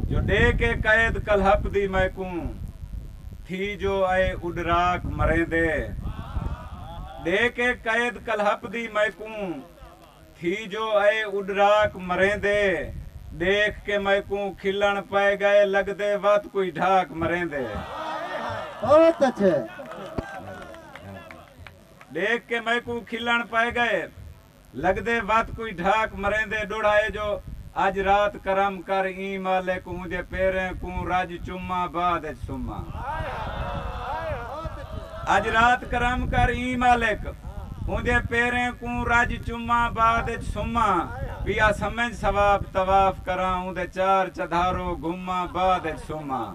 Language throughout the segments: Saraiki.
جو ݙے کے قید کلہپ دی میں کوں تھی جو اے اݙراک مریندے ݙے کے قید کلہپ دی میں کوں تھی جو اے اݙراک مریندے ݙیکھ کے میں کوں کھلݨ پئے ڳئے لڳدے وت کوئی ڈھاک مریندے بہت اچھے۔ ݙیکھ کے میں کوں کھلݨ پئے ڳئے۔ لگدے وت کوئی ڈھاک مریندے ڈوڑھا اے جو اج رات کرم کر ایں مالک اوندے پیریں کوں رج چماں بعد اچ سماں اج رات کرم کر ایں مالک اوندے پیریں کوں رج چماں بعد اچ سماں پیا سمنج ثواب طواف کراں اوندے چار چدھارو گھماں بعد اچ سماں۔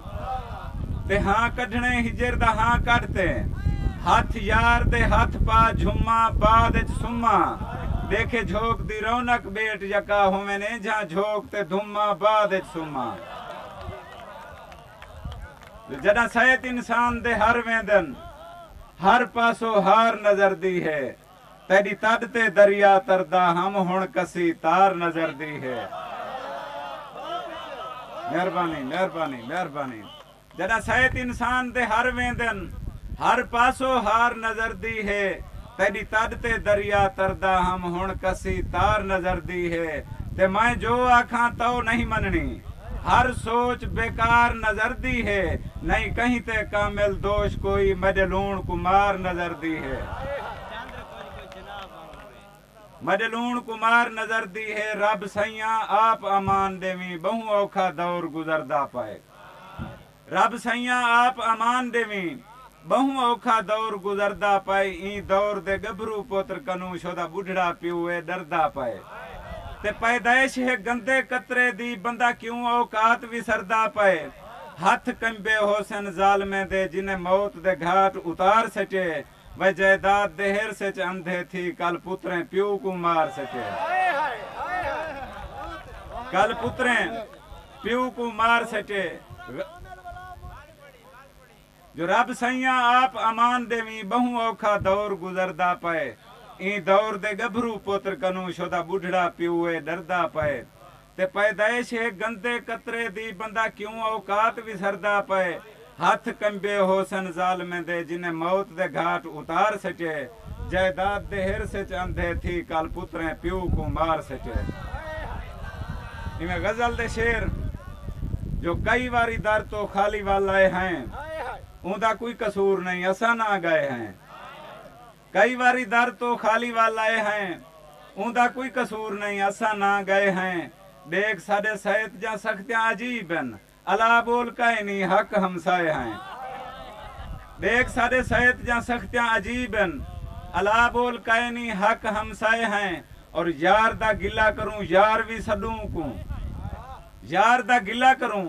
تے ہاں کڈھنڑیں ہجر دا ہاں کڈھ تے ہتھ یار دے ہتھ پا جھماں بعد اچ سماں ڈیکھے جھوک دی رونق بیٹ یکا ہوون اینجھاں جھوک تے دھماں بعد اچ سماں جو جڈاں سیت انسان دے ہر ویندن ہر پاسو ہار نظر دی ہے۔ تیݙی تݙ تے دریا تردا ہم ہݨ کسی تار نظر دی ہے مہربانی مہربانی مہربانی جݙاں سیت انسان دے ہر ویندن ہر پاسو ہار نظر دی ہے تیݙی تݙ تے دریا تردا ہم ہݨ کسی تار نظر دی ہے تے میں جو آکھاں تئو نہیں منݨی ہر سوچ بیکار نظردی ہے۔ نئیں کہیں تے کامل دوش کوئی مڈے لوݨ کوں مار نظردی ہے۔ مڈے لوݨ کوں مار نظردی ہے۔ رب سئیاں آپ امان ڈیویں ٻہوں اوکھا دور گزردا پئے۔ رب سئیاں آپ امان ڈیویں۔ بہوں اوکھا دور گزردا پائے ایں دور دے گبھرو پوتر کنوں شودا بڈھڑا پیو اے ڈردا پائے تے پیدائش ہے گندے قطرے دی بندہ کیوں اوقات وسردا پائے ہتھ کنبے ہوسن ظالمیں دے جنہیں موت دے گھاٹ اتار سٹیے وے جائیداد دے ہرس اچ اندھے تھی کل پتریں پیو کوں مار سٹیا کل پتریں پیو کوں مار سٹے جو رب سئیاں آپ امان ڈیویں بہوں اوکھا دور گزردا پئے ایں دور دے گبھرو پتر کنوں شدہ بڈھڑا پیو اے ڈردا پئے تے پیدائش ہے گندے قطرے دی بندہ کیوں اوقات وسردا پئے ہتھ کنبے ہوسن ظالمیں دے جنہیں موت دے گھاٹ اتار سٹئے جائیداد دے ہرس اچ اندھے تھی کل پتریں پیو کوں مار سٹئے ایویں غزل دے شعر جو کئی واری در توں خالی ول آئے ہیں اوندا کوئی قصور نہیں اساں نہ گائے ہیں۔ کئی واری در توں خالی ول آئے ہیں۔ اوندا کوئی قصور نئیں اساں نہ گئے ہیں۔ ڈیکھ ساڈے سئیت جاں سختیاں عجیب ہن۔ الا بول کائے نی حق ہمسائے ہیں۔ ڈیکھ ساڈے سئیت جاں سختیاں عجیب ہن۔ الا بول کائے نی حق ہمسائے ہیں۔ اور یار دا گلہ کروں یار وی سڈوں اونکوں۔ یار دا گلہ کروں